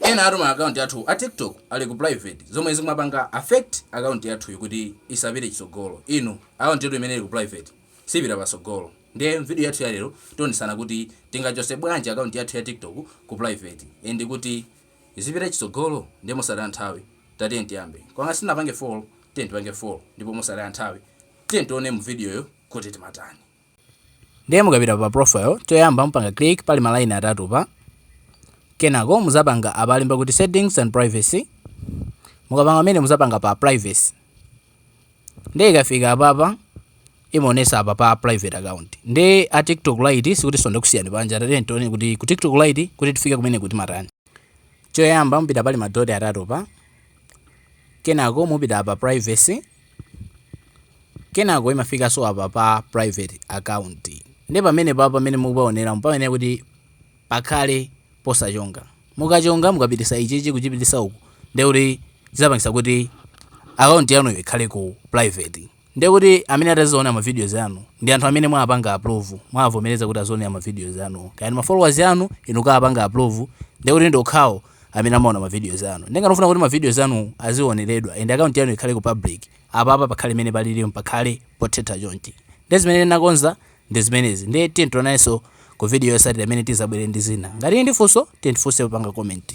Ena athu ma account athu a tiktok ali ku private zomwe zikumapanga affect account yathuyi kuti isapite chitsogolo inu account yathu imene ili ku private sipita patsogolo ndiye mvideo yathu ya lero tionesana kuti tingachose bwanji account yathu ya tiktok ku private and kuti izipita chitsogolo ndiye mosataya nthawi tatiye tiyambe koma ngati simunapange follow tiye tipange follow ndipo mosataya nthawi tiye tione mu video yo kuti timatani ndiye mukapita pa profile choyamba mupanga click pali ma line atatu pa kenako muzapanga apa alemba kuti settings and privacy mukapanga mene muzapanga pa privacy ndiye ikafika apapa imaonesa apa pa private account ndiye a tiktok lite sikuti tonde kusiyani panja tatiye tione kuti ku tiktok lite kuti tifike kumeneku timatani choyamba mupita pali madoti atatu pa kenako mupita pa privacy kenako imafikanso apa pa private account nde pamenepapa pamene mukupaoneramu payenekera kuti pakhale posachonga mukachonga mukapitisa ichichi kuchipitisa uku nde kuti zizapangisa kuti account yanuyo ikhale ku private nde kuti amene atamaziona ma videos anu ndi anthu amene mwapanga approve mwavomereza kuti azionera ma videos anu kaya ndi ma followers anu inu mukapanga approve nde kuti ndokhawo amene amaona ma videos anu nde ngati mufuna kuti ma videos anu azioneredwa and account yanu ikhale ku public apa apa pakhale mene palilimu pakhale potheta chonchi nde zimene ndinakonza ndi zimenezi nde tiye tionanenso ku video yosatira imene tizabwere ndi zina ngati muli ndi funso tiye ndifunseni popanga comment